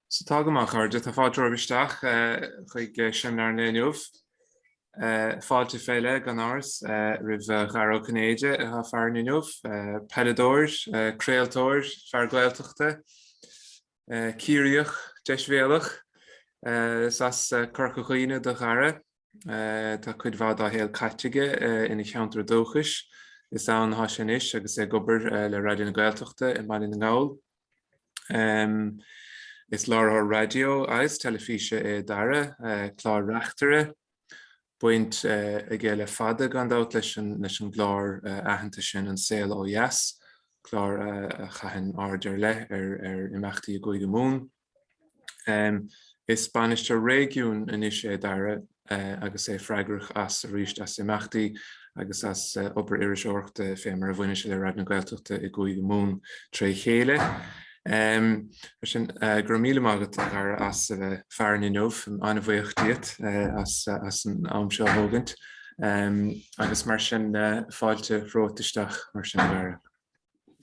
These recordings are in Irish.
So tá go maith, a chairde. Tá fáilte romhaibh isteach chuig seimineár an lae inniu. Fáilte fé leith, gan amhras, roimh Dhara Ó Cinnéide atá farainn inniu, peileadóir, craoltóir, fear Gaeltachta, Ciarraíoch, deisbhéalach, is as Corca Dhuibhne do Dhara. Eh, tá cuid mhaith dá shaol caite aige eh, ina cheantar dúchais. Is ann atá sé anois agus é ag obair eh, le Raidió na Gaeltachta i mBaile na nGall. Em, Is láithreoir raidió agus teilifíse é Dara, eh, clár reachtaire. Baint eh, aige le fada, gan dabht, leis an, leis an gclár eh, aitheanta sin, An Saol Ó Dheas, clár eh, a chaitheann aird ar leith ar, ar imeachtaí i gCúige Mumhan. Is Bainisteoir Réigiúin anois é Dara agus é freagrach as arís as imeachtaí agus as obair iriseoireachta fé mar a bhaineann sé le Raidió na Gaeltachta i gCúige Mumhan tré chéile. Mar sin, go raibh míle maith agat, a Dhara, as a bheith farainn inniu. An-bhuíoch díot as an am seo a thógaint. Agus mar sin, fáilte romhat isteach mar sin, a Dhara.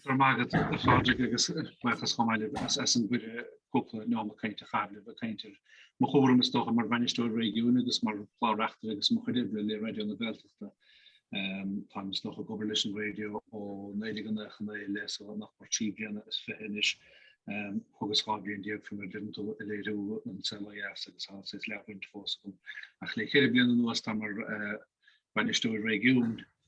Go raibh maith agat a Phádraig agus buíochas chomh maith libh as an gcuireadh cúpla neomat cainte a chaitheamh libh ag caint ar mo chúram is dócha mar Bhainisteoir Réigiúin agus mar Chlár Reachtaire agus mo chuid oibre le Raidió na Gaeltachta. Táim is dócha ag obair leis an raidió ó Nollaig an Nócha Naoi i leith so nach mór trí bliana is fiche anois thugas dhá bhliain déag fé mar a deireann tú ag léiriú An Saol Ó Dheas agus thá saghas leathbhaint fós agam ach le ceithre bliana anuas táim mar Bhainisteoir Réigiúin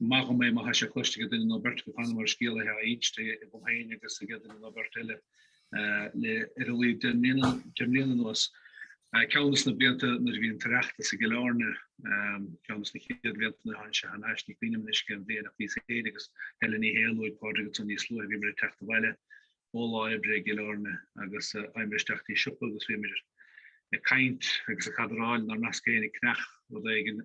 Maith dhom é má tá sé cloiste ag duine nó beirt agaibh cheana mar scéal atá á insint agam féin agus ag duine nó beirt eile le ar a laghad deich mbliana anuas. Ceann de na blianta nuair a bhí an tOireachtas i gCill Airne, ceann de na chéad bhlianta nuair a tháinig sé thar n-ais, ní cuimhin liom anois cén bhliain ach bhíos féinig agus Helen Ní Shé a luaigh Pádraig ansan níos luaithe bhíomar ag teacht abhaile ó lá oibre i gCill Airne agus d'imíomar isteach go dtí siopa agus bhíomar ag caint agus ag cadráil inár measc féinig ag ceannach rud éigin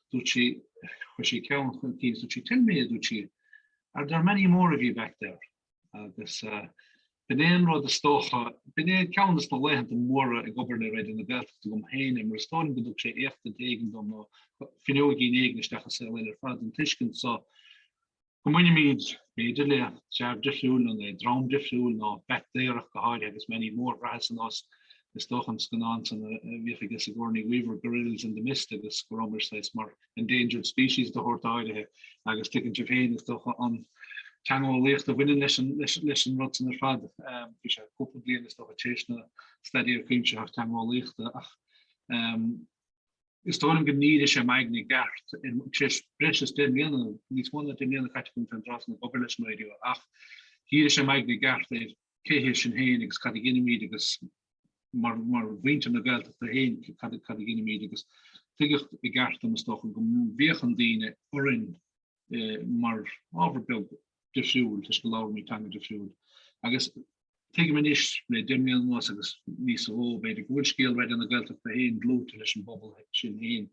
dúirt sí, chuir sí ceann chun cinn agus dúirt sí, Tell me, a dúirt sí, are there many more of you back there? agus b'in é an rud is dócha, b'in é ceann des na laethanta móra ag obair le Raidió na Gaeltachta agam féin é, mar is dóigh liom go dtug sé éachtaint éigin dom nó fuinneoigín éigin isteach i saol eile ar fad den tuiscint so, Go mbainimid, b'fhéidir, le treabh difriúil nó le dream difriúil, nó b'fhéidir ach go háirithe, agus many more bhraitheas ar nós, is dócha, an scannán san a bhíodh aige Sigourney Weaver, Gorillas in the Mist, agus go rabhamar saghas mar endangered species de shórt áirithe, agus tuigeann sibh féin, is dócha, an teangeolaíocht a bhaineann leis an, leis, leis an rud san ar fad. Um, bhí sé cúpla bliain is dócha tar éis an Staidéar Cuimsitheach Teangeolaíochta ach um, Is dóigh liom gur dhírigh sé m'aigne i gceart tar éis breis is deich mbliana, níos mó ná deich mbliana caite agam an tráth san ag obair leis an raidió, ach dhírigh sé m'aigne i gceart ar cé hiad sinn féin agus cad a dheinimid agus mar mhuintir na Gaeltachta féin cad a dheinimid agus tuigeadh i gceart dom is dócha go bhféachann daoine orainn mar ábhar beag difriúil toisc go labhraimid teanga difriúil. Agus tuigim anois, le deich mbliana anuas agus níos mó, b'fhéidir go bhfuil scéal Raidió na Gaeltachta féin dlúite leis an bpobal sin féin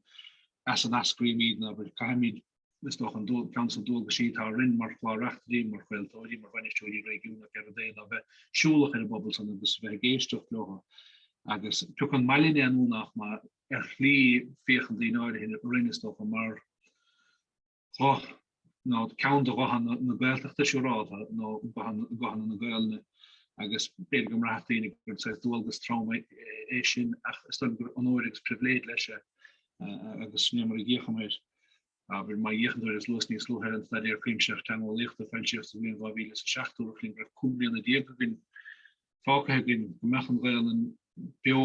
as a n-eascraímid ná go gcaithfimid, is dócha, ceann des na dualgaisí atá orainn mar chlár reachtairí, mar chraoltóirí, mar bhainisteoirí réigiúnacha ar an dtaobh ná bheith siúlach ar an bpobal san agus bheith ag éisteacht leo agus pé acu an maith linne é nó nach maith ar shlí féachann daoine áirithe orainn, is dócha, mar ghuth, nó ceann de ghutha na Gaeltachta, siúrálta, nó guthanna na Gaolainne, agus b'fhéidir go mbraithfeadh daoine gur saghas dualgas trom é sin, ach is dóigh gur onóir agus pribhléid leis é, agus sin é mar a dh'fhéachaim air. Abair, má dh'fhéachann tú ar is luas níos luaithe an staidéar cuimsitheach teangeolaíochta a foilsíodh sa bhliain 2007, dúradh linn go raibh cúig bliana déag againn, fágtha againn, go mbeadh an Ghaelainn beo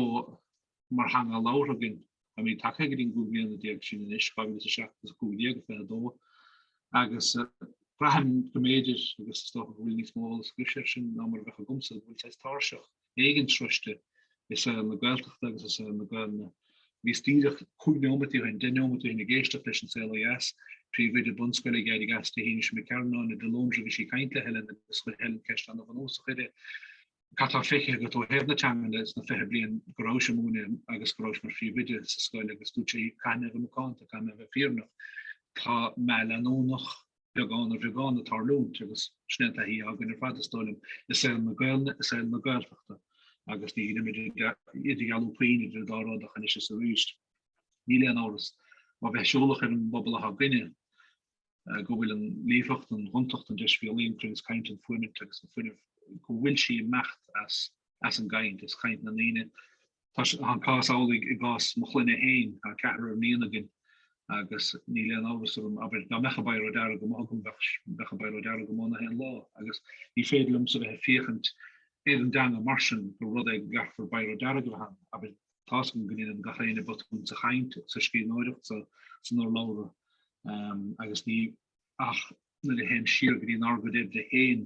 mar theanga labhartha againn. Táimid tagtha go dtí an cúig bliana déag sin anois, 2007 is 15, 22, agus braithim go mb'fhéidir, agus is dócha go bhfuil níos mó eolas agaibhse air sin ná mar a bheadh agamsa, go bhfuil saghas tairseach éigin sroiste i saol na Gaeltachta agus i saol na Gaelainne. Bhíos díreach, cúig nóiméad ó shin, deich nóiméad ó shin ag éisteacht leis an Saol ó Dheas, príomhoide bunscoile ag éirí as di, Hamish Mac Cearnáin, i Dlondra, bhí sí ag caint le Helen agus chuir Helen ceist ana bhunúsach uirthi, cad tá feicthe agat ó thaobh na teangan sna fiche bliain go rabhais ag múineadh agus go rabhais mar phríomhoide sa scoil agus dúirt sí caithfidh mé a bheith macánta, caithfidh mé a bheith fírinneach, tá meath leanúnach. beagán ar bheagán ag tarlúint agus sin é an taithí againn ar fad is dóigh liom i saol na Gaeilne, i saol na Gaeltachta agus ní dheinim idirdhealú puinn idir an dá rud ach anois is arís níl aon amhras má bheith siúlach ar an bpobal atá againne go bhfuil an líofacht, an ghontacht, an deisbhéalaí, an cruinneas cainte, an fuaimint agus an fuinneamh go bhfuil sé ag imeacht as as an gcaint, as chaint na ndaoine Tá an cás amhlaidh i gcás mo chlainne féin. Tá ceathrar iníon againn agus níl aon amhras agam, abair, dá mbeadh an biro dearg amuigh agam, bheadh a b'fhearr ó deara go maith ná haon lá. Agus ní féidir liomsa a bheith ag féachaint ar an dteanga mar sin gur rud é go gcaithfear biro dearg a bheith ann, abair, tá's agam go ndéanann gach éinne botún sa chaint, sa scríbhneoireacht, san urlabhra, agus ní. Ach nuair a théim siar go dtí an argóint féin,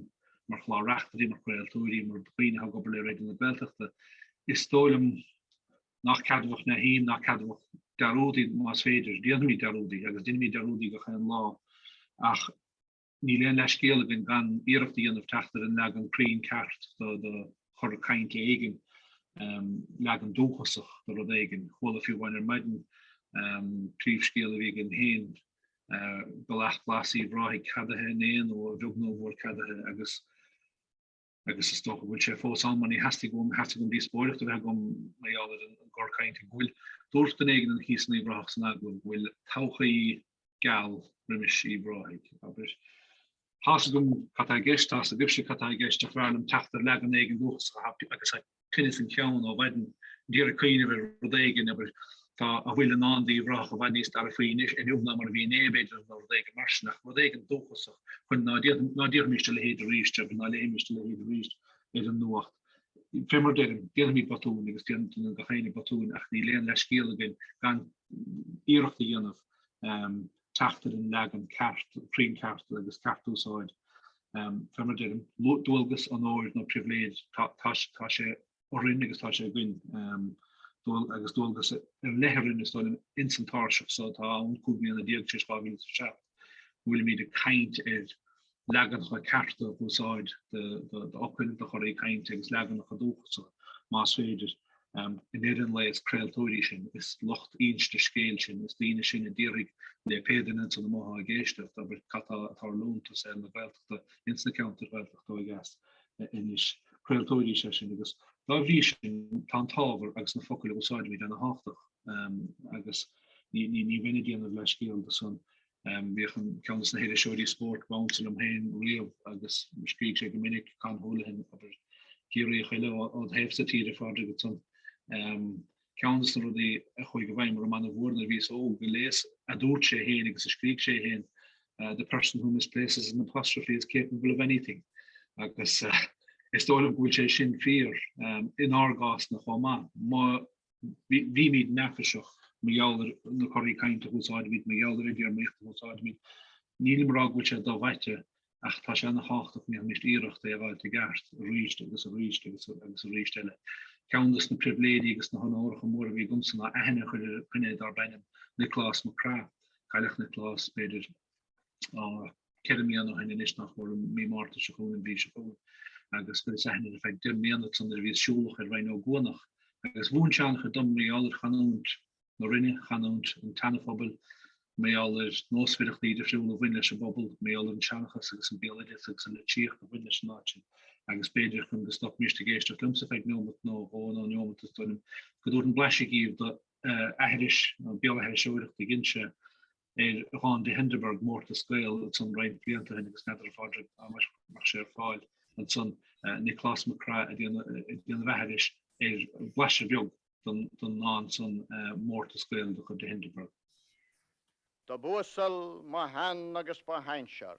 mar chlár-reachtairí, mar chraoltóirí, mar dhaoine atá ag obair le Raidió na Gaeltachta, is dóigh liom nach ceadmhach mé féin, nach ceadmhach dearúdaí, más féidir, déanfaimid dearúdaí, agus deinimid dearúdaí gach aon lá, ach níl aon leithscéal againn gan iarracht a dhéanamh teacht ar an leagan cruinn ceart de chor cainte éigin, leagan dúchasach de rud éigin. Chuala fiú amháin ar maidin príomhscéal a bhí againn féin Bealach Glas Uíbh Ráthaigh ceadaithe inné nó a bheag nó a mhór ceadaithe agus agus is dócha go bhfuil sé fós ann mar ní theastaigh uaim theastaigh uaim díospóireacht a bheith agam mar gheall ar an gcor cainte go bhfuil dúirt duine éigin thíos in Uíbh Ráthach san eagla go bhfuil todhchaí geal roimis Uíbh Ráthaigh abair Tá's agam cad atá i gceist, tá's agaibhse cad atá i gceist, ach b'fhearr liom teacht ar leagan éigin dúchasach a thabhairt agus a chinneadh faoin cheann ó mhaidin. a d'iarraidh cuimhneamh ar rud éigin, abair, tá a bhfuil i ndán d'Uíbh Ráthach i bhfad níos dearfaí anois inniu ná mar a bhí inné, b'fhéidir, nó rud éigin mar sin, ach rud éigin dúchasach chun ná déanfaimis a leithéid arís, abair, ná léifimis a leithéid arís ar an nuacht. Fé mar a deirim, déanfaimid botúin agus déanann gach éinne botúin ach níl aon leithscéal againn gan iarracht a dhéanamh teacht ar an leagan ceart, cruinn ceart agus ceart úsáid. Fé mar a deirim, dualgas, onóir nó pribhléid, tá sé orainn agus tá sé againn. Agus dualgas ar leith orainn, is dóigh liom, ins an tairseach so atá ann 15 bliana tar éis 2007, go bhfuilimid ag caint ar leaganacha cearta a úsáid d'fhocail, do chorraí cainte agus leaganacha dúchasacha, más féidir, in Éirinn é, is craoltóirí sinn, is lucht inste scéil sinn, is daoine sinn a déarfaidh le pé duine ansan amuigh atá ag éisteacht, abair, cad atá ag tarlúint ins na Gaeltachtaí ins na ceantair Ghaeltachta ó dheas anois? Craoltóirí is ea sinn agus dá bhrí sin tá an t-ábhar agus na focail a úsáidimid ana thábhachtach agus ní bheinn ag déanamh leithscéal dó san Bhíodh an ceann des na hiriseoirí spóirt ab ansa liom féin riamh agus scrígh sé go minic, Con Houlihan, abair, Ciarraíoch eile ód thaobhsa tíre, a Phádraig, ansan. Ceann des na rudaí a chuaigh i bhfeidhm orm an-mhór nuair a bhíos óg a léas a dúirt sé féin agus a scrígh sé féin, The person who misplaces an apostrophe is capable of anything. Agus is dóigh liom go bhfuil sé sin fíor inár gcás-na chomh maith. bhímid neafaiseach mar gheall ar na corraí cainte a úsáidimid, mar gheall ar an dtéarmaíocht a úsáidimid. Nílim ag rá go bhfuil sé do-mhaite, ach tá sé an-tábhachtach go ndéanfaimis iarracht é a fháilt i gceart arís agus arís agus arís eile. Ceann des na pribhléidí agus na honóracha móra a bhí agamsa ná aithne a chur ar dhuine dár b'ainm Nioclás Mac Craith, cailleadh Nioclás, b'fhéidir, ceithre mbliana ó shin anois nach mór mí Márta seo chugainn an mhí seo chugainn agus go dtí Sathairn ar feadh deich mbliana san ar a bhíos siúlach ar Rinn Ó gCuanach agus mhúin sé an-chuid dom mar gheall ar chanúint na Rinne, chanúint an tseanaphobail, mar gheall ar nósmhaireachtaí difriúla a bhain leis an bpobal, mar gheall ar an tseanchas agus an béaloideas agus an litríocht a bhain leis an áit sin agus b'fhéidir chun go stopfaimíst ag éisteacht liomsa ar feadh neomat nó dhó nó neomat is dóigh liom go dtabharfainn blaiseadh díbh do aithris nó béalaithriseoireacht a dhein sé ar dhán de Hindeberg, Mórtas Gael, ansan roinnt blianta ó shin agus n'fheadar a Phádraig an mbeadh sé ar fáil ansan, Nioclás Mac Craith ag déanamh aithrise ar bhlaiseadh beag den ndán san, Mórtas Gael de chuid de Hindeberg. Dob uasal mo shean agus mo shinsear.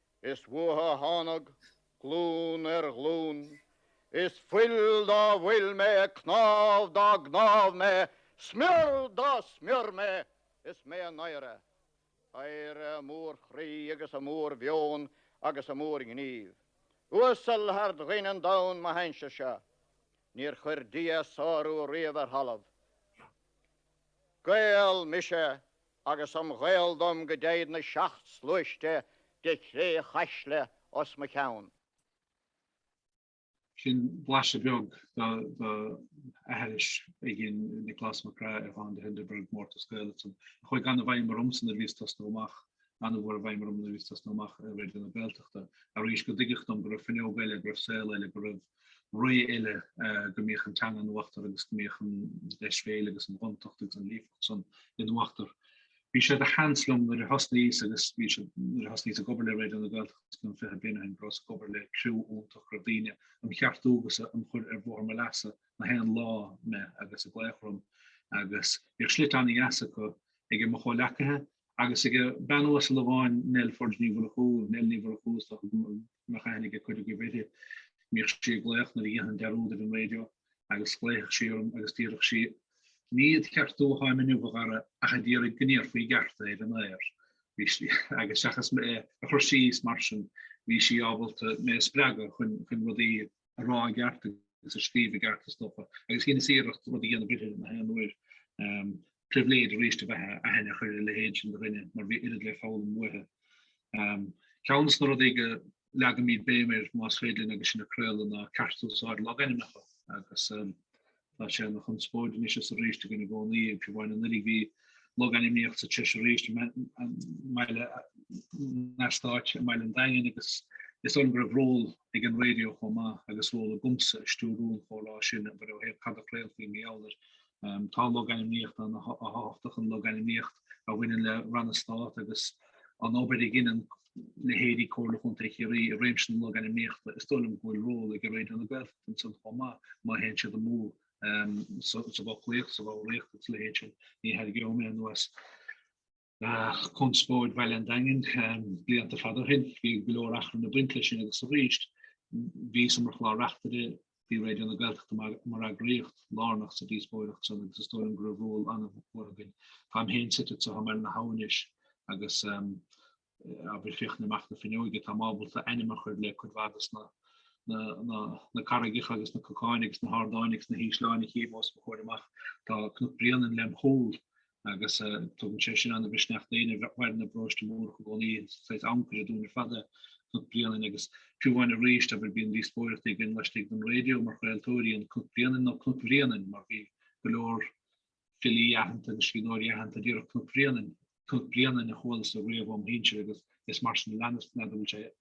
Is uathu a thánag, glún ar ghlún. Is fuil dá bhfuil mé, cnámh dá gcnámh mé, smior dá smior mé. Is mé a n-oidhre. Oidhre a mór-chroí agus a mór-mheon agus a mór-ghnímh. Uasal thar dhaoine an domhain mo shinsear-sa. Níor chuir Dia a sárú riamh ar thalamh. Gael mise. agus im Ghael dom go dtéid na seacht sluaiste de chré chaisle os mo cheann. Sin blaiseadh beag d'aithris a dhein Nioclás Mac Craith ar dhán de Hindeberg, Mórtas Gael ansan, a chuaigh an- i bhfeidhm ormsa nuair a bhíos ag tosnú amach, an-mhór i bhfeidhm orm nuair a bhíos ag tosnú amach i Raidió na Gaeltachta, arís, go dtuigeadh dom go raibh fuinneog eile, go raibh saol eile, go raibh. ré eile go mbíodh an teanga in uachtar agus go mbíodh an deisbhéil agus an ghontacht agus an líofacht san in uachtar. Bhí sé de sheans liom nuair a thosnaíos agus bhí sé nuair a thosnaíos ag obair le Raidió na Gaeltachta fiche bliain ó shin go rabhas ag obair le criú iontach raibh daoine am cheartú agus am chur ar bhóthar mo leasa na haon lá mé agus ag glaoch orm agus bhíodh slite an-dheasa acu aige mo chomhleacaithe agus aige bean uasal amháin Nell Forde Ní Mhurchú Nell Ní Mhurchú is dócha go mbeadh aithne aige cuid agaibh uirthi? Bhíodh sí ag glaoch nuair a dhéanfainn dearúd ar an raidió agus ghlaofadh sí orm agus déarfadh sí, 'Ní ad cheartú atháim inniu, a Dhara, ach a d'iarraidh go ndéarfaí i gceart ar an aer. Bhí sí, agus seachas mé a chur síos mar sin, bhí sí ábalta mé a spreagadh chun rudaí a rá i gceart agus a scríobh i gceart, is dócha, agus dheineas iarracht rud a dhéanamh uirthi na haon uair. Pribhléid arís a bheith aithne a chur ar a leithéid sin de dhuine, mar bhí oiread le foghlaim uaithi. Ceann des na rudaí go leagaimid béim air, más féidir linn, agus sinn ag craoladh, ná ceartúsáid logainmneacha, agus Tá sé ina chonspóid anois is arís againn i gcónaí, agus fiú amháin anuraidh. Bhí logainmníocht sa treis arís i mbaile, in eastát i mBaile an Daingin agus is dóigh liom go raibh ról ag an raidió chomh maith agus ról agamsa i stiúrú an chomhrá sin abair ó thaobh cad a chraolfaí i mí Eanáir. Tá logainmníocht ana-thábhachtach, an logainmníocht a bhaineann le ranna Stáit agus an obair a dheineann leithéidí Comhairle Chontae Chiarraí i réimse na logainmníochta, is dóigh liom go bhfuil ról ag Raidió na Gaeltachta ansan chomh maith má théann siad amú sa bhfoclaíocht, sa bhfoghraíocht agus sa leithéid sin. Ní tharraingeoidh mé anuas conspóid Bhaile an Daingin blianta fada ó shin, bhí go leor achrann ag baint leis sin agus arís. Bhíos-sa mar chlár reachtaire Bhí Raidió na Gaeltachta mar eagraíocht lárnach sa díospóireacht san agus is dóigh liom go raibh ról an-mhór againn. Táim féin suite anso thiar i mBaile na hAbha anois agus abair ag féachaint amach na fuinneoige, táim ábalta ainm a chur le cuid mhaith de na carraigeacha agus na cnocáin agus na hardáin agus na hísleáin a chím os mo chomhair amach. Tá Cnoc Bréanainn lem' chúl agus tugann sé sin ana-mhisneach d'aoinne a mhaireann i bParóiste Mórdhach i gcónaí, saghas ancaire dúinn ar fad Cnoc Bréanainn, agus fiú amháin arís abair bíonn díospóireachtaí againn laistigh den raidió mar chraoltóirí an Cnoc Bréanainn nó Cnoc Bhréanainn mar bhí go leor filí aitheanta agus scríbhneoirí aitheanta a déarfadh Cnoc Bhréanainn, Cnoc Bréanainn a chuala-sa riamh óm' shinsear agus is mar sin a leanas-sa a bhfuil sé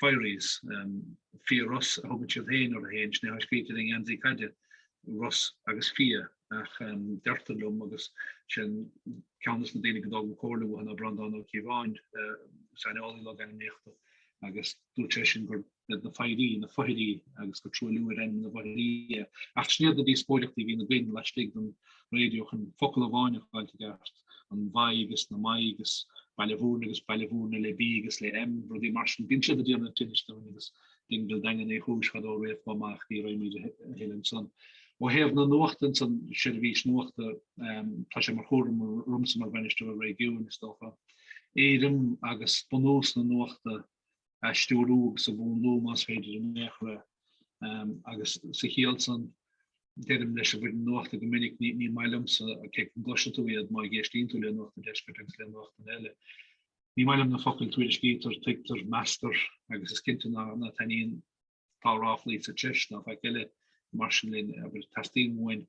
Firies, Fia Ros, a thugann siad féin orthu féin, sin é atá scríte ar an ngeansaí caide, Ros agus Fia, ach deirtear liom, agus sin ceann des na daoine go dtógaim comhairle uathu ná Breandán Ó Cíobháin, saineolaí logainmníochta, agus dúirt sé sin gurb iad na Foidhrí, na Foidhrí agus gur truailliú ar ainm na bhFoidhrí é. Ach sin iad na díospóireachtaí a bhíonn againn laistigh den raidió chun focal amháin a fháil i gceart. an Mhaigh agus na Maighe agus Baile Bhuirne agus Baile Mhúirne le B agus le M, rudaí mar sin. Bíonn siad ag déanamh tinnis dúinn agus Dingle Daingean Uí Chúis fadó riamh ach ní raghaimid a thuilleadh ansan. Ó thaobh na nuachta ansan, seirbhís nuachta, tá sé mar chúram romsa mar Bhainisteoir Réigiúin, is dócha, éirim agus bunús na nuachta a stiúrú agus a mhúnlú más féidir in aon chor. Agus sa chiall san, deirim leis an bhfoireann nuachta go minic, ní maith liomsa cé go gcloisfidh tú iad má éistíonn tú le Nuacht an Deiscirt agus le nuachtanna eile. Ní maith liom na focail tuairiscítear, tuigtear, meastar agus is cinnte ná taitníonn. tá ráflaí sa treis ná faic eile, mar sin linn, abair, teastaíonn uainn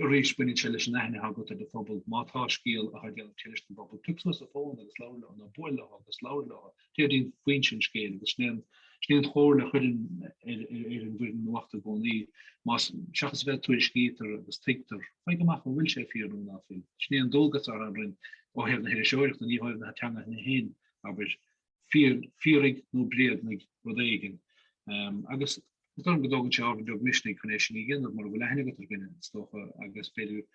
arís, baineann sé leis an aithne atá agat ar do phobal. Má tá scéal atá ag déanamh tinnis don bpobal, tóg suas an fón agus labhair leo, nó buail leo agus labhair leo, deimhnigh foinse an scéil, agus sin é an sin é an chomhairle a chuirim ar an bhfoireann nuachta i gcónaí, más, seachas a bheith ag tuairiscítear agus tuigtear, faigh amach an bhfuil sé fíor nó ná fuil. Sin é an dualgas atá orainn ó thaobh na hiriseoireachta, ní ó thaobh na teanga féin, abair, fíoraigh nó bréagnaigh rud éigin. Agus is dóigh liom go dtógann sé ábhar beag misnigh chun é sin a dhéanamh mura bhfuil aithne agat ar dhuine, is dócha, agus b'fhéidir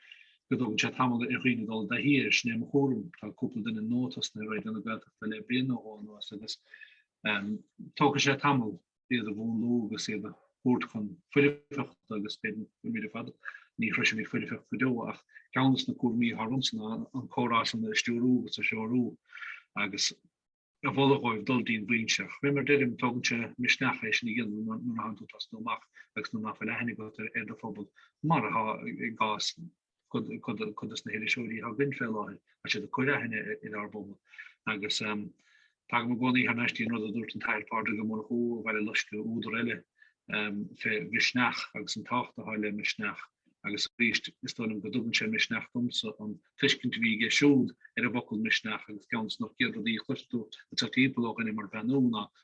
go dtógann sé tamall ar dhaoine dul i dtaithí air. Sin é mo thuairim. Tá cúpla duine nua tosnaithe i Raidió na Gaeltachta le bliain nó dhó anuas agus tógfaidh sé tamall. iad a mhúnlú agus iad a thabhairt chun foirfeachta agus an méid ar fad, ní shroisim foirfeacht go deo ach ceann de na cúraimí atá ormsa ná an comhrá san a stiúrú agus a threorú agus a mholadh dhóibh dul dtín bhfoinse. Ach mar deirim, tógann sé misneach é sin a dhéanamh nuair atánn tú ag tosnú amach agus nuair ná fuil aithne agat ar do phobal, mar atá i gcás cuid dos na hiriseoirí atá againn fé láthair, tá siad ag cur aithne ar ár bpobal. Agus tagaim i gcónaí thar n-ais dtín rud a dúirt an tAthair Pádraig Ó Murchú ó Bhaile Loiscthe, údar eile fé mhisneach agus an tábhacht atá le misneach, agus arís, is dóigh liom go dtugann sé misneach domsa, an tuiscint a bhí aige siúd ar an bhfocal misneach, agus ceann dos na chéad rudaí a chloisfeá, atá timpeall ó dhuine mar Bean Úna,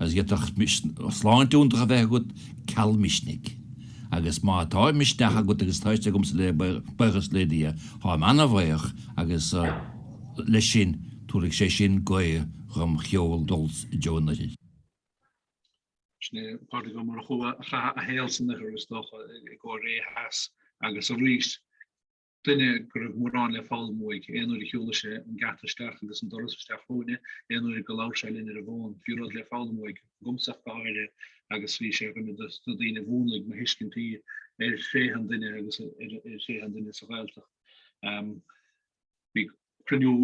agus d'fhéadfadh sláinte iontach a bheith agat ceal misnigh. Agus má tá misneach agat agus tá fhios agamsa le buíochas le Dia, tháim ana-bhaoch agus leis sin, tabharfaidh sé sin gaoth dom sheol dul i dtreo an Oirthir. Sin é Pádraig Ó Murchú a chaith a shaol san Oirthear is dócha, i gCóiré Theas agus arís. duine go raibh mórán le foghlaim uaidh, aon uair a shiúladh sé an geata isteach agus an doras isteach chugainne, aon uair go labhraíodh sé linn ar an bhfón, bhí rud le foghlaim uaidh agamsa ach go háirithe agus bhí sé ar dhuine de na daoine a mhúnlaigh mo thuiscintí ar thréithe an duine agus ar thréithe an duine sa Ghaeltacht. Bhí. cruinniú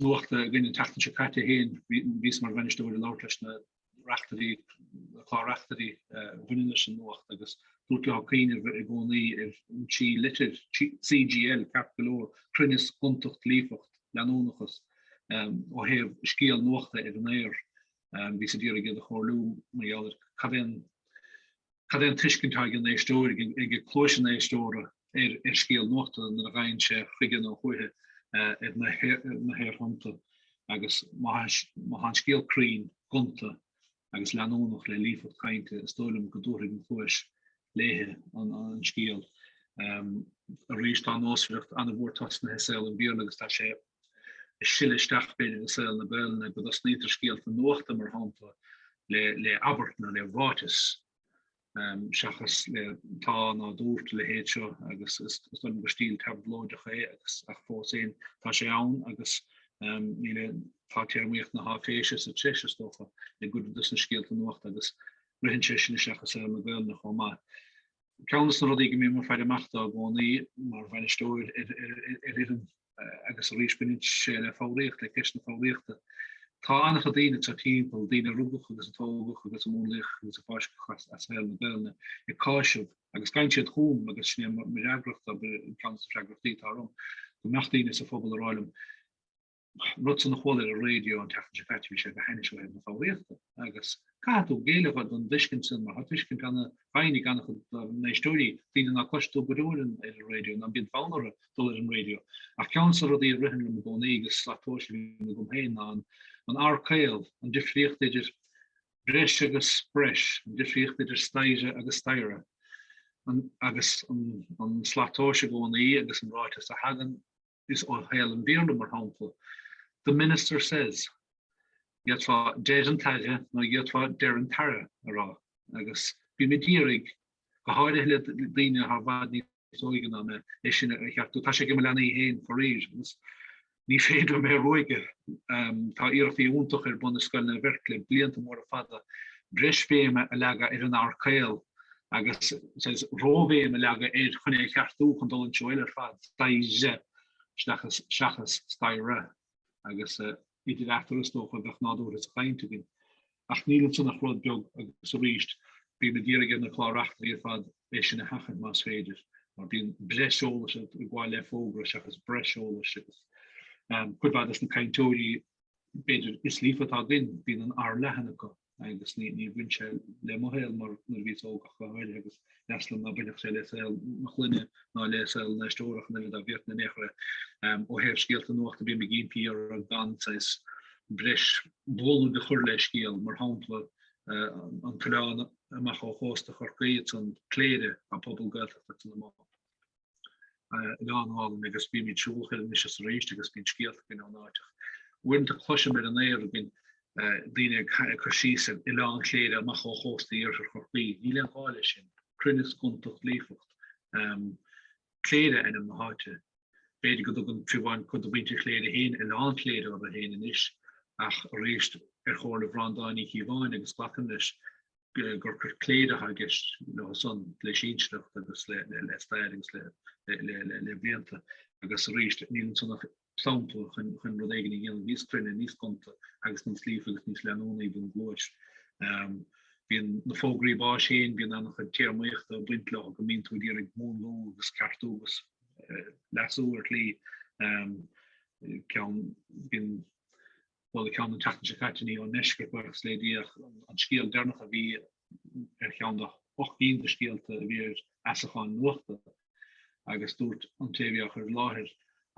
nuachta againn an tseachtain seo caite féin, bhíos mar bhainisteoir ag labhairt leis na reachtairí, na clár reachtairí a bhaineann leis an nuacht agus dúrt leo cuimhneamh i gcónaí ar an trí litir, CGL, ceart go leor, cruinneas, gontacht, líofacht, leanúnachas, ó thaobh scéal nuachta ar an aer. Bhíos ag iarraidh iad a chomhairliú mar gheall ar cad é an Cad é an tuiscint atá ag an éisteoir, ag cluais an éisteora ar scéal nuachta nuair a ghabhann sé chuige nó chúithi ar na haerthonnta agus má tá an scéal cruinn, gonta agus leanúnach le líofacht cainte, is dóigh liom go dtabharfaidh an chluais léithe an scéal. Arís tá an nósmhaireacht an-mhór tosnaithe i saol an Bhéarla agus tá sé ag sileadh isteach féin i saol na Gaelainne, go dtosnaítear scéalta nuachta, mar shampla, le abairt nó le ráiteas, seachas le tá ná dúirt a leithéid seo, agus is dóigh liom gur stíl tablóideach é, agus ach fós féin, tá sé ann, agus níl, tá téarmaíocht na háiféise sa treis, is dócha, i gcuid dos na scéalta nuachta, agus ritheann sé sin isteach i saol na Gaelainne chomh maith. Ceann des na rudaí go mbím ag faire amach dó i gcónaí mar bhainisteoir ar fhoireann agus arís baineann sé le foghraíocht, le ceist na foghraíochta. Tá an-chuid daoine anso timpeall, daoine a rugadh agus a tógadh agus a múnlaíodh agus a fáisceadh as shaol na Gaelainne, ag cáiseamh, agus gabhann siad chugam agus sin é mo fhreagracht, ab ea ceann de na freagrachtaí atá orm, go mbeadh daoine sa phobal ag rá liom, rud san a chuala ar an raidio an tseachtain seo caite, bhí sé go hainnis ó thaobh na foghraíochta. Agus caithfidh tú géilleadh don dtuiscint sin, mar tá tuiscint an-dhaingean ag an-chuid dár n-éisteoirí, daoine ná cloistear go leor ar an raidio, ná bíonn fonn orthu dul ar an raidio. Ach ceann des na rudaí a ritheann liom i gcónaí, agus slat tomhais a bhíonn agam féin, ná an r caol, an difríocht idir breis agus breis, an difríocht idir staighre agus staighre, agus an slat tomhais i gcónaí agus an ráiteas a thagann is ó shaol an Bhéarla, mar shampla, The minister says, d'fhéadfá deir an t-aire nó d'fhéadfá deir an t-aire a rá, agus bímid ag iarraidh, go háirithe le daoine atá i bhfad níos óige ná mé, é sin a cheartú. Tá sé ag im' leanaí féin faraor, agus ní féidir liom é a ruaigeadh. Tá iarrachtaí iontach ar bun i Scoil Naomh Eirc le blianta móra fada breis béime a leagadh ar an r caol, agus róbhéim a leagadh air chun é a cheartú chun dul an treo eile ar fad, staighre seachas staighre, agus idir eatarthu is dócha a bheadh nádúr sa chaint againn. Ach níl ansan ach rud beag, agus arís, bím ag iarraidh ar na clár-reachtairí ar fad é sin a sheachaint más féidir, mar bíonn breis eolais ag gabháil le fógra seachas breis eolais, agus cuid mhaith des na cainteoirí b'fhéidir is líofa atá againn, bíonn an r leathan acu. agus ní ní bhain sé le mo shaol mar nuair a bhíos óg ach go háirithe agus ba dheas liom ná bainfeadh sé le saol mo chloinne ná le saol na n-éisteoirí ach an oiread bhíodh na méachaire um, ó thaobh scéalta nuachta bím ag impí orthu gan saghas breis bualadh do chur le scéal mar shampla uh, an t-oileán amach ó chósta Chorcaí ansan Cléire an pobal Gaeltachta san amuigh. oileán álainn agus bímid ag siúl chuige anois is arís agus bíonn scéalta againn ón áit ach uaireanta cloisim ar an aer againn daoine ag cur síos ar oileán Chléire amach ó chósta iarthar Chorcaí. Níl aon ghá leis sin. Cruinneas gontacht líofacht. Cléire ainm na háite. B'fhéidir go dtugann fiú amháin cuid de mhuintir Chléire féin oileán Chléire orthu féin anois ach arís ar chomhairle Bhreandáin Uí Chíobháin agus glacaim leis. gur gur Cléire atá i gceist ansan le sinsearacht agus le stair agus le blianta agus arís níl ansan ach sampla chun rud éigin a dhéanamh níos cruinne, níos gonta agus níos líofa agus níos leanúnaí don gcluais. Fiú na fógraí báis féin, bíonn an-chuid téarmaíochta ag baint leo go mbíonn tú ag iarraidh múnlú agus ceartú agus leasú ar shlí. Bíonn Bhuel, ceann na tseachtain seo caite ní raibh an script, is léadh an scéal deireanach a bhí ar cheann de hocht gcinn de scéalta a bhí ar fheasachán nuachta agus dúirt an té a bhí á chur i láthair,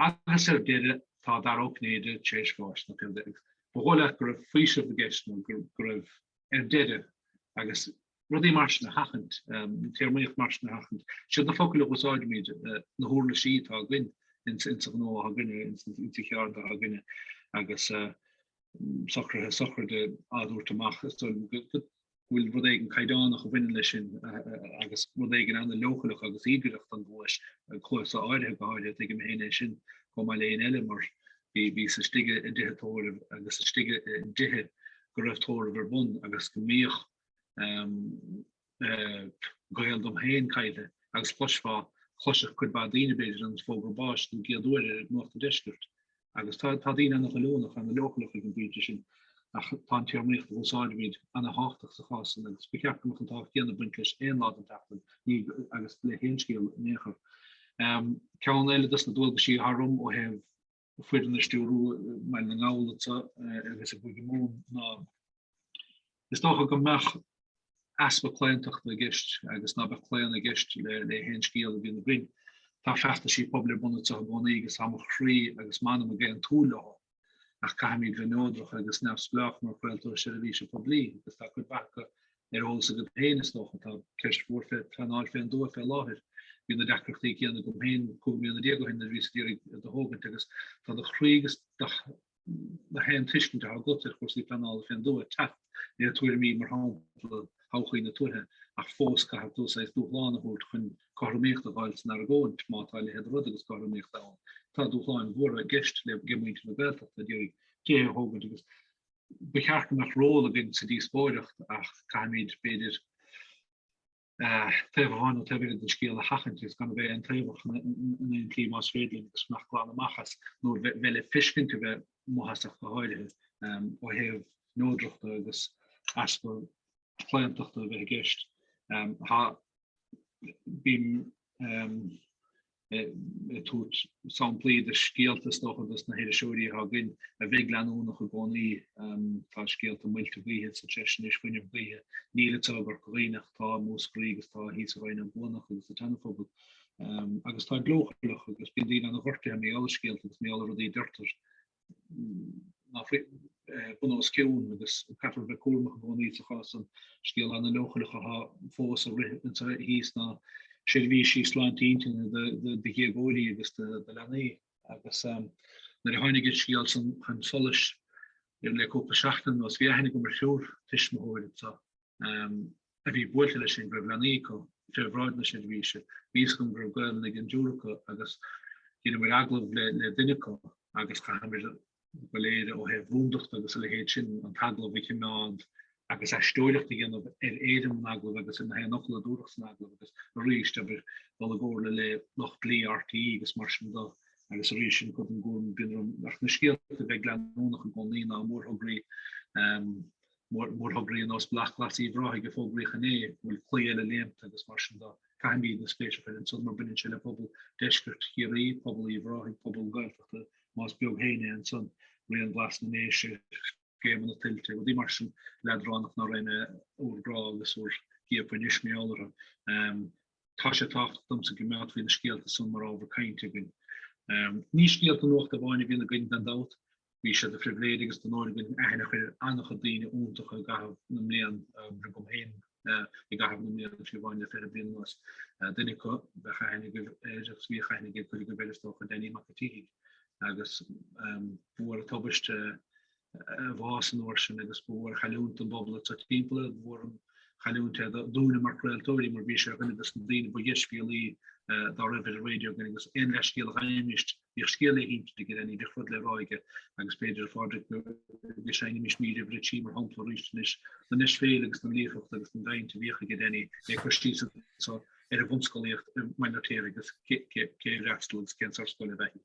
Agus ar deireadh, tá Dara Ó Cinnéide tar éis bháis, nó pé hé. Ba dhóigh leat go raibh faoiseamh i gceist nó go raibh ar deireadh agus rudaí mar sin a sheachaint, an téarmaíocht mar sin a sheachaint. Is iad na focail a úsáidimid, na huirlisí atá againn insa ghnó atá againn, insa cheird atá againn agus socruithe sochraide á dtabhairt amach. Is dóigh liom go bhfuil rud éigin caighdeánach a bhaineann leis sin agus rud éigin an-leochaileach agus íogaireach don gcluas, cluasa áirithe go háirithe. Tuigim féin é sin chomh maith le haon eile mar Bhíos-sa istigh i dtithe tórraimh agus istigh i dtithe go raibh tórramh ar bun agus go mbíodh gaol dom féin caillte agus chloisfeá, chloisfeadh cuid mhaith daoine b'fhéidir, an fógra báis don gcéad uair ar Nuacht an Deiscirt. Agus tá daoine an-ghoilliúnach, an-leochaileach ag an bpointe sin, ach tá an téarmaíocht a úsáidimid an-tábhachtach sa chás sin agus ba cheart go mbeadh an tábhacht céanna bainte leis aon lá den tseachtain agus le haon scéal in aon chor. Ceann eile dos na dualgaisí atá orm ó thaobh foireann a stiúrú maidir le gnó nuachta i gCúige Mumhan ná Is dócha go mbeadh easpa claontachta i gceist agus ná beadh claon i gceist le le haon scéal a bhíonn againn. Tá feachtaisí pobail ar bun anseo i gcónaí agus tá mo chroí agus m'anam ag aontú leo ach caithfimid bheith neodrach agus neamhspleách mar chraoltóir seirbhíse poiblí agus tá cuid mhaith acu ar eolas agat féin, is dócha, tá ceist mhór fé phleanáil fén dtuath fé láthair. Bhí na deacrachtaí céanna agam féin 15 mbliana ó shin nuair a bhíos ag iarraidh tigh a thógaint agus tá do chroí agus do thuiscint atá agat ar chúrsaí pleanála fén dtuath ag teacht le tuairimí, mar shampla, Todhchaí na Tuaithe, ach fós caithfidh tú saghas dúshlán a thabhairt chun cothromaíocht a fháil san argóint, má tá a leithéid de rud agus cothromaíocht ann. Tá dúshláin mhóra i gceist ag muintir na Gaeltachta ag iarraidh tithe a thógaint agus Ba cheart go mbeadh ról againn sa díospóireacht ach caithfimid, b'fhéidir, taobh amháin nó taobh eile den scéal a sheachaint agus gan a bheith aontaobhach in aon tslí más féidir linn agus fanacht glan amach as nó a bheith le feiscint a bheith maitheasach go háirithe ó thaobh neodrachta agus easpa claontachta a bheith i gceist. Tá, bím, ag tabhairt samplaí de scéalta, is dócha, dos na hiriseoirí atá againn a bheidh leanúnach i gcónaí. Tá scéalta muilte gaoithe sa treis anois, fuinneamh gaoithe, níl sé i gCorca Dhuibhne ach tá i Múscraí agus tá thíos i Rinn Ó gCuanach agus an tSeanaphobail. Agus tá siad leochaileach agus bíonn daoine ana ghortaithe mar gheall ar scéalta agus mar gheall ar rudaí a deirtear ná fuil bun os cionn agus caithfear a bheith cúramach i gcónaí sa chás san scéal ana leochaileach atá fós ag rith anseo thíos ná seirbhísí sláinte intinne do dhéagóirí agus do leanaí. Agus nuair a tháinig an scéal san chun solais le cúpla seachtain anuas bhí aithne agam ar thriúr tuismitheoir anseo. a bhí buailte leis sin go raibh leanaí acu fé bhráid na seirbhíse, bhí a fhios agam go raibh Gaelainn ag an dtriúr acu agus dheineamar agallamh le duine acu agus caithfimid go léir ó thaobh rúndachta agus a leithéid sin an t-agallamh a chimeád agus aisteoireacht a dhéanamh ar éirim an agallamh agus ar na haon fhocal a dúradh san agallamh agus arís abair dul i gcomhairle le lucht dlí RTÉ agus mar sin de agus arís sin cuid don gcúram a bhíonn orm ach na scéalta bheith go leanúnach i gcónaí ná mórthograí um, mórthograí ar nós Bealach Glas Uíbh Ráthaigh a fógraíodh inné, go bhfuil claí eile léimte agus mar sin de, caithfimidne spéis fé leith ansan mar baineann sé le pobal Deisceart Chiarraí, pobal Uíbh Ráthaigh, pobal na Gaeltachta, más beag féin é ansan, Rian Glas na nDéise, scéimeanna tuilte, rudaí mar sin leadránach ná raghainn ag bhur gcrá agus bhur gciapadh anois mar gheall orthu. Tá sé tábhachtach domsa go mbeadh faoi na scéalta san mar ábhar cainte againn. Ní scéalta nuachta amháin a bhíonn againn, gan dabht. Bhí sé de phribhléid agus d'onóir againn aithne a chur ar an-chuid daoine iontacha i gcaitheamh na mblian, agam féin, i gcaitheamh na mbliana trí mhaoin le fiche bliain anuas. Duine acu bheadh aithne agaibh air agus bhíodh aithne ag cuid agaibh air, is dócha, Danny Mac an tSíthigh, agus ba mhór an tubaist. a bhás an uair sin agus ba mhór an chailliúint é don bpobal so timpeall, ba mhór an chailliúint é dúinne mar chraoltóirí mar bhí sé ar dhuine dos na daoine ba dheisbhéalaí dá raibh ar an raidió againn agus aon leathscéal a gheibhimis bhíodh scéal le hinsint ag Danny, bhíodh rud le rá aige agus b'fhéidir a Phádraic go seinnfimis mír uimhir a trí mar shampla arís don ndeisbhéalacht agus don líofacht agus don gcaint a bhíodh ag Danny ag cur síos atá ar an bhunscolaíocht i mBaile an Fheirtéaraigh agus cé a raghadh ar scoil agus cén sórt scoil ab ea í.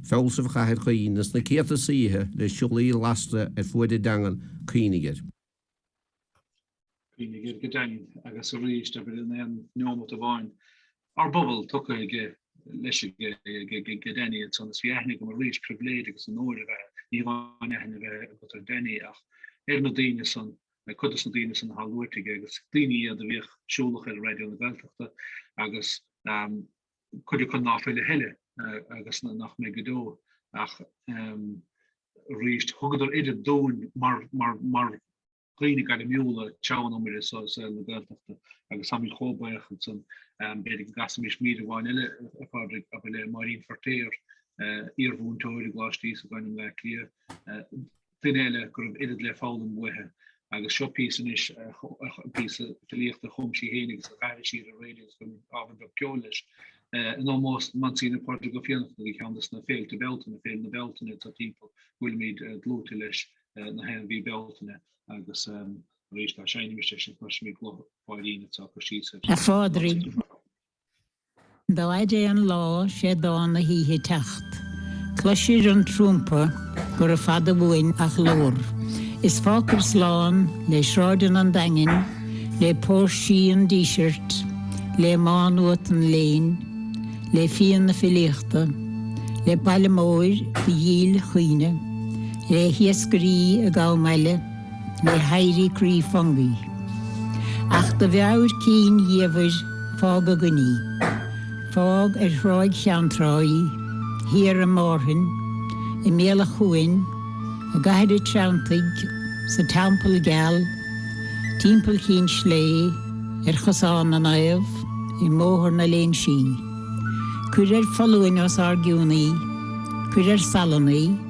fealsamh Chathair Caoin is na céadta saoithe le siollaí lasta ar fuaid a dteangan, Coinnigh air. Coinnigh air go daingean agus arís abair in aon neomat amháin. Ár bpobal tugtha aige leis ag Danny ansan is bhí aithne agam arís pribhléid agus onóir a bheith, ní hamháin aithne a bheith agat ar Danny ach ar na daoine san, cuid dos na daoine san athá luaite aige agus daoine iad a bhíodh siúlach ar Raidió na Gaeltachta agus cuid acu ná fuil a thuilleadh agus nach mbeidh go deo ach arís. Thugadar oiread dúinn mar dhaoine gairmiúla ag treabhadh an iomaire i saol na Gaeltachta agus táimid chomh baoch as san. B'fhéidir go gcasfaimís mír amháin eile, a Phádraig, acu le Máirín Feirtéar, iarmhúinteoir i gColáiste Íosagáin i mBleá Cliath. duine eile go raibh oiread le foghlaim uaithe, agus seo píosa anois, píosa filíochta a chum sí féin agus a chas sí ar an raidió agus ábhar beag ceoil leis. In ómós don Mhonsignor Pádraig Ó Fiannachta, bhí ceann dos na féilte Bealtaine, Féile na Bealtaine atá timpeall go bhfuilimid dlúite leis na haon mhí Bealtaine, agus arís dá seinnfimis é sin go gcloisfimis guth Mháirín atá ag cur síos ar Phádraig. Dá fhaid é an lá, 'sé dán na hoíche teacht. Cloisir an trúmpa gurab fada uainn a ghlór, Is fágtar slán le sráideanna an Daingin, Le póirsí an Dísirt, le Má Nuat an léinn, Le fíon na filíochta, le Baile Móir do dhílchuimhne, Le hiascairí ag am aille. le héirí croí Fungi. Ach do mheabhair cinn dhiamhair fág againn í. Fág ar Thráigh Cheann Trá í, thiar i Márthain, i mBéal a' Chuain, i gCathair a' Treantaigh, sa Teampall Geal, timpeall Chinn Slé, ar Chosán na Naomh, i mBóthar na Léinsí. Cuir ar foluain os ár gcionn í. Cuir ar salann í.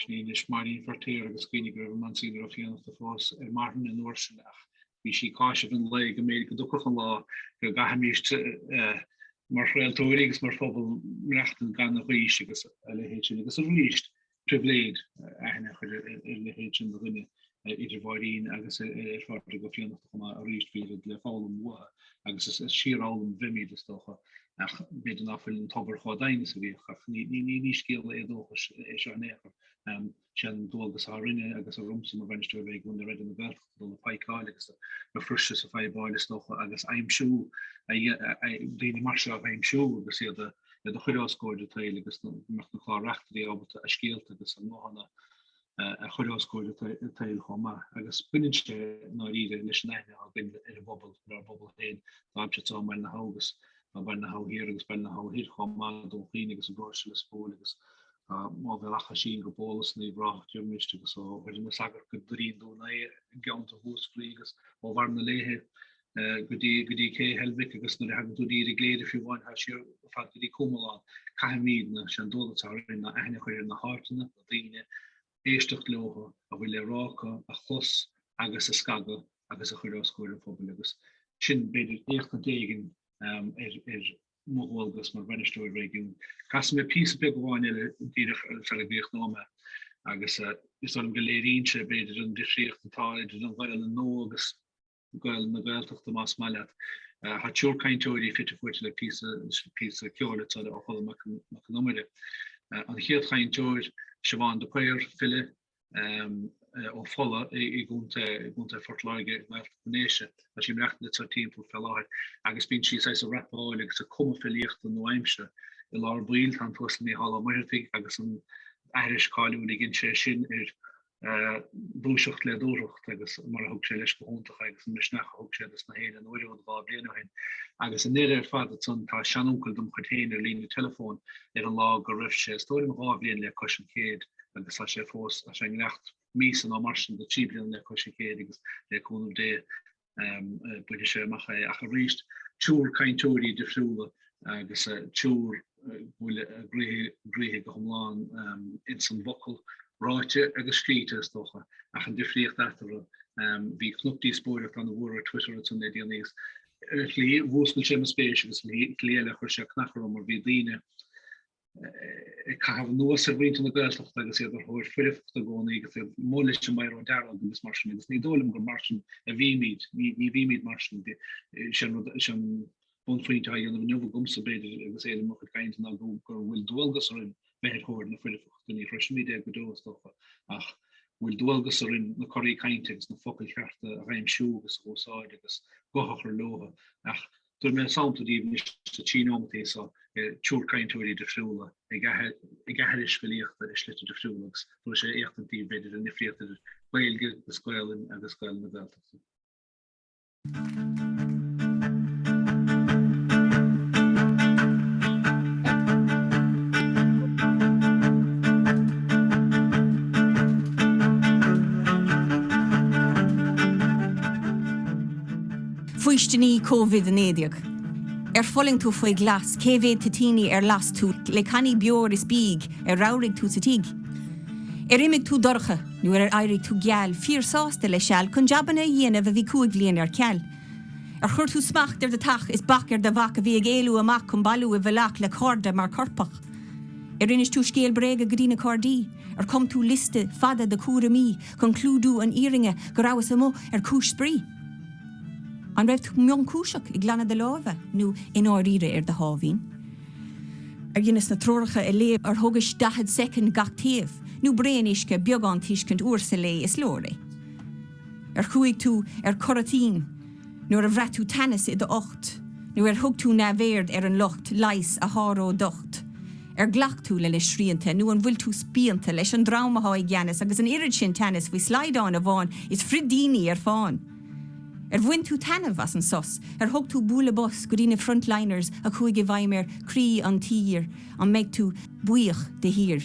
Sin é anois Máirín Feirtéar agus cuimhnigh go raibh an Monsignor Ó Fiannachta fós ar marthain an uair sin ach bhí sí ag cásamh an lae go mb'fhéidir go dtiocfadh an lá go gcaithfimís mar chraoltóirí agus mar phobal maireachtaint gan a ghaois agus a leithéid sin agus arís, pribhléid aithne a chur ar leithéid sin de dhuine. idir Mháirín agus Phádraig Ó Fiannachta chomh maith arís, bhí oiread le foghlaim uathu agus is ag síorfhoghlaim a bhímid, is dócha, ach b'fhéidir ná fuil an tobar chomh doimhin is a bhíodh, ach ní scéal éadóchais é seo in aon chor, sé an dualgas atá orainne agus ormsa mar bhainisteoir réigiúin le Raidió na Gaeltachta dul ag paidhceáil agus ag fuirseadh is ag fadhbáil, is dócha, agus aimsiú, daoine mar seo a aimsiú agus iad a chur os gcomhair an tsaoil agus go mbeadh na clár-reachtairí ábalta a scéalta agus a ngnóthanna a chur os comhair an tsaoil chomh maith agus baineann sé i ndáiríre leis an aithne atá againn ar an bpobal, ar ár bpobal féin, dá aimsir atá, Baile na hAbha agus Baile na hAbha Thiar agus Baile na hAbha Thoir chomh maith, Dún Chaoin agus an bráithre Lios Póil agus Uíbh Ráthach as sin go Bólas nó i bhfrásacht iomriste agus ó Dhoire na Sagart go Doirín Dún Aodha i gceantar Mhúscraí agus ó Bharr na Léithe go dtí Cé Heilbhic agus nuair a thagann tú go dtí Cléire fiú amháin thar siar go fad go dtí Comalán. Caithfimid na sé an dualgas atá orainn ná aithne a chur ar na háiteanna, na daoine, éisteacht leothu, a bhfuil le rá acu, a chlos agus a scagadh agus a chur os comhair an phobail agus sin b'fhéidir éachtaint éigin ar mo dhualgas mar bhainisteoir réigiúin. Casfaidh mé píosa beag amháin eile díreach ar feadh b'fhéidir neomat agus is dóigh liom go léiríonn sé b'fhéidir an difríocht atá idir an Ghael anó agus Gaolainn na Gaeltachta más maith leat. Tá triúr cainteoirí fite fuaite le píosa píosa ceoil atá le ó Cholm Mac Mac Con Iomaire. An chéad chainteoir, Siobhán de Paor, file, ó Fola i i gContae i gContae Phort Láirge i nGaeltacht na nDéise. Tá sí imreachta le Tor Timpeall fé láthair agus bíonn sí saghas ag rapáil agus ag cumadh filíochta nua-aimse. I lár baill tá an tUasal Mícheál Ó Muircheartaigh agus an aithris cáiliúil a dhein sé sin ar Dúiseacht le dúthracht agus mar a thug sé leis go hiontach agus an misneach a thug sé dos na héinne uair amháin dhá bhliain ó shin. Agus i ndeireadh ar fad ansan tá seanuncail dom chuid féin ar líne teileafóin ar an lá go raibh sé, is dóigh liom, dhá bhliain le cois an chéid agus tá sé fós, tá sé i ngiorracht míosa nó mar sin do trí bliana le cois an chéid agus le cúnamh Dé bainfidh sé amach é ach arís triúr cainteoirí difriúla agus triúr a bhfuil a gcroíthe go hiomlán ins an bhfocal ráite agus scríte is dócha ach an difríocht eatarthu. Bhí cnoc díospóireachta ana mhór ar Twitter ansan le déanaí agus ar shlí mhúscail sé mo spéis agus ar shlí eile chuir sé cancar orm mar bhí daoine ag caitheamh anuas ar mhuintir na Gaeltachta agus iad ar thóir foirfeachta i gcónaí agus iad amuigh leis an mbiro dearg agus mar sin agus ní dóigh liom gur mar sin a bhímid, ní bhímid mar sin. Is é an bunphointe atá á dhéanamh inniu agamsa, b'fhéidir, agus éirim mo chuid cainte ná go bhfuil dualgas orainn bheith ar thóir na foirfeachta. Ní shroisfimid é go deo, is dócha, ach go bhfuil dualgas orainn na coraí cainte agus na focail chearta a aimsiú agus a úsáid agus guth a chur leothu. Ach Tabharfaidh mé sampla díbh anois de trí nótaí seo ar triúr cainteoirí difriúla ag aithris filíochta i slite difriúla agus tabharfaidh sé éachtaint díbh b'fhéidir ar an ndifríocht idir Gaeilge agus Gaolainn agus Gaolainn na Gaeltachta. Faoistiní Covid 19. Ar fulaing tú faoi ghlas? Cé mhéad toitíní a las tú le cannaí beoir is bídh ar ramhraigh tú sa tigh? Ar imigh tú dorcha nó ar éirigh tú geal? Fíor sásta le seal cun jabanna a dhéanamh a bhí cúig bhliain ar ceal? Ar chuir tú smacht ar do theach is bac ar do mhac a bhí ag éalú amach cun bailiú i bhflac le cairde mar coirpeach? Ar inis tú scéal bréaga go dtí na Gardaí? Ar cum tú liosta fada do cúraimí cun clúdú an fhírinne go rabhas amuigh ar chúis spraoi? An raibh tú mionchúiseach i nglanadh do lámha nó i ndáiríre ar do sháimhín? Ar dheineas na treoracha a léamh ar thógais 40 soicind gach taobh, nó braon uisce, beagán tuiscint uair sa lae, is leor é? Ar chuaigh tú ar coraintín nuair a bhraith tú teannas i d'ucht, nó ar thug tú neamhaird ar an lucht leighis a sháródh d'ucht? Ar ghlac tú lena srianta nó an bhfuil tú spíonta leis an dream atá i gceannas agus an oiread sin teannas faoi shlaghdán amháin is frídíní ar fán? Ar bhain tú taitneamh as an sos? Ar thug tú bualadh bos go dtí na frontliners a chuaigh i bhfeidhm ar 'croí an tír'? An mbeidh tú buíoch de shíor?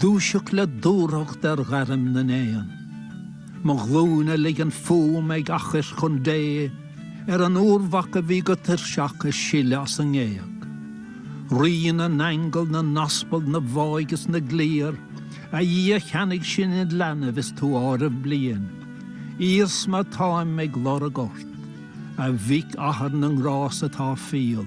Dúiseacht le dúthracht ar ghairm na n-éan. Mo ghlúine ligean fúm ag athchairt chun Dé Ar an úrmhac a bhí go tuirseach ag sileadh as an ngéag. Rí na n-aingeal, na n-aspal, na bhfáidh is na gcliar, A Dhia cheannaigh sinn id leanbh is tú áireamh bliain. Iarsma táim ag lorg ort, a Mhic Athar na ngrás atá fial.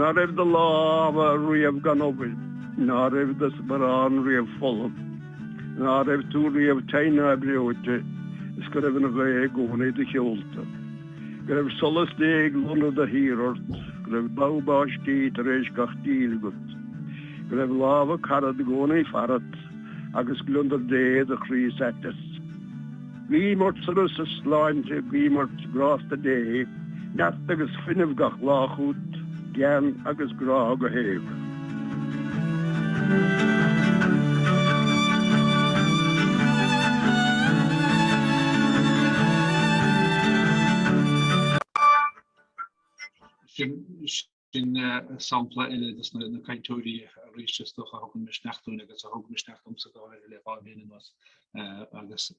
Ná raibh do lámha riamh gan obair, ná raibh do sparán riamh folamh, ná raibh tú riamh tinn ná breoite is go raibh an ghaoth i gcónaí i do sheolta. Go raibh solas Dé ag lonradh de shíor ort, go raibh bogha báistí tar éis gach díle agat, go raibh lámha carad i gcónaí farat agus gliondar Dé i do chroí is aiteas. Guím ort sonas is sláinte, guím ort grásta Dé, neart agus fuinneamh gach lá chugat. gean agus grá go héag. Sin sampla eile de na cainteoirí arís is dócha a thugann misneach dúinn agus a thug misneach domsa go háirithe le dhá bhliain anuas agus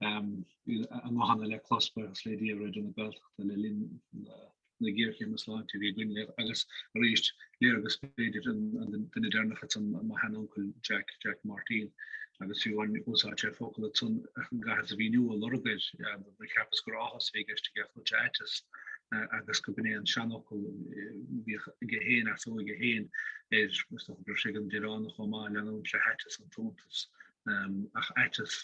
a nguthanna le clos, buíochas le Dia, ar Raidió na Gaeltachta le linn na na géarchéime sláinte a bhí againn agus arís léargas b'fhéidir duine deireanach ansan mo sheanuncail Jack, Jack Martin, agus fiú amháin d'úsáid sé focal ansan an gaitheamh a bhí inniu a lorg air, nó cheapas gur áthas a bhí i gceist aige a chuid aiteas agus go b'in é an seanfhocal bhíodh aige féin as ó aige féin ar gur sé an Direánach chomh maith leanúint le haiteas an t-iontas ach aiteas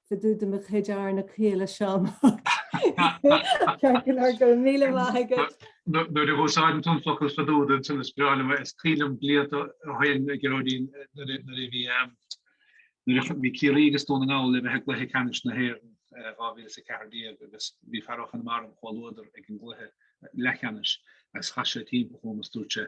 Fá dtaobh de mo chuid arna chéile, a Sheáin. Ceart go leor, go raibh míle maith agat. Nuair a úsáideann tú an focal fá dtaobh de is breá liom é. Is cuimhin liom blianta ó shoin, Geraldine, nuair a bhí nuair a bhí Ciarraí agus Dún na nGall le bheith i gcluiche ceannais na hÉireann 2014 agus bhí fear ó Chonamara, im chomhluadar, ag an gcluiche leathcheannais agus chas sé timpeall chugam agus dúirt sé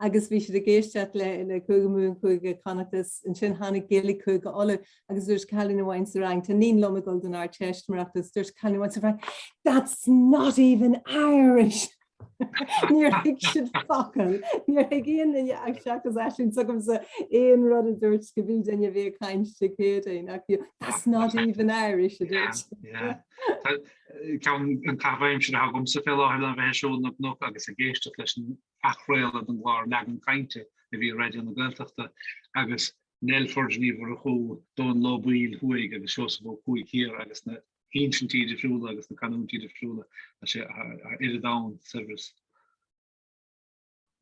agus bhí siad ag éisteacht le le Cúige Mumhan, Cúige Chonnacht agus, ansin tháinig Gaeilge Chúige Uladh agus dúirt cailín amháin sa rang, tá iníon liom ag dul don Ardteist mar fheiceann tú, dúirt cailín amháin sa rang That's not even Irish! Níor thuig siad focal, níor thuig aon duine ach seachas Aisling s'agamsa aon rud a dúirt pé duine a bhí ag caint le CTYI ach bhí That's not even Irish! a dúirt. Tá ceann do na caithimh aimsire atá agamsa fé láthair le bheith ag siúl na gcnoc agus ag éisteacht leis an athchraoladh den gclár Leagan Cainte a bhí ar Raidió na Gaeltachta agus an Nollaig ceiliúradh do Dhónall Ó Baoill Thuaidh agus Seosamh Ó Cuaig Thiar agus na hinsintí difriúla agus na canúintí difriúla atá ar domhan saibhreas.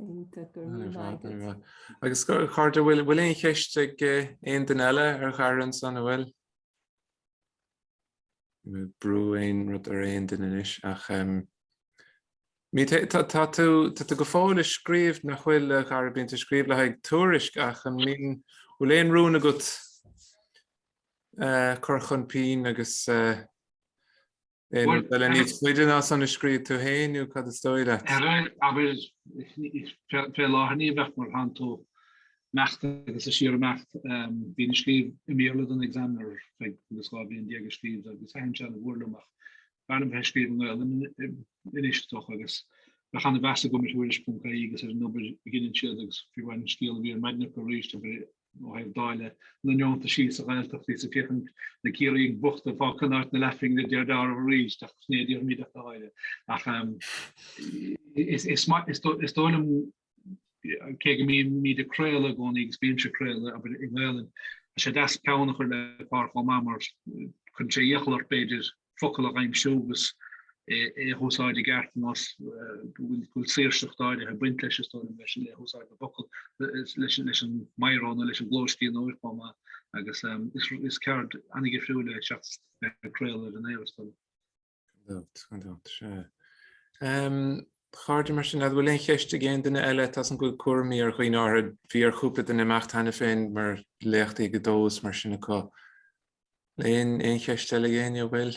Iontach, go raibh maith agat. Agus a chairde, bhfuil bhfuil aon cheist ag eh, aon duine eile ar Chiara ansan an bhfuil? Brú aon rud ar aon duine anois ach um, Ní, tá tú go fóill ag scríobh nach bhfuil a Chiara, bíonn tú ag scríobh le haghaidh Tuairisc ach an mbíonn, bhfuil aon rún agat cur chun pinn agus aon rud eile níos faide ná san a scríobh tú féin nó cad is dóigh leat? Ar aon nós, fé láthair ní bheadh mar ansan tá tú ag imeacht agus ag síorimeacht. Bhínn ag scríobh i mBéarla don Examiner, bhíos dhá bhliain déag ag scríobh agus thaitin sé an-mhór liom ach B'fhearr liom bheith ag scríobh i nGaelainn anois, dócha, agus bheadh an-mheas agam ar Thuairisc.ie agus ar an obair a dheineann siad agus fiú amháin an scéal a bhí ar maidin acu arís ó thaobh dáileadh na ndeontaisí sa Ghaeltacht agus ag féachaint na Ciarraígh bochta ag fáil Conán na Leathphingin a deir Darragh arís ach is ní déarfaimid dada eile. Ach is dóigh liom cé go mbíonn mé ag craoladh i gcónaí agus bímse ag craoladh abair i nGaelainn, tá sé deas peann a chur le pár chomh maith mar cuireann sé iachall ort b'fhéidir focal a aimsiú agus é a húsáid i gceart agus tá a fhios agat go bhfuil saoirseacht áirithe ag baint leis, is dóigh liom, le húsáid na bhfocal leis an meaisín nó leis an gclóscríbhneoireacht chomh maith agus is ceird an-dhifriúil é seachas craoladh ar an aer, is dóigh liom. Chairde, mar sin, an bhfuil aon cheist ag aon duine eile? Tá a fhios agam go bhfuil cúraimí ar dhaoine áirithe. Bhí ar chúpla duine imeacht cheana féin mar léachtaí ag a dó is mar sin acu. Aon cheist eile ag éinne, an bhfuil?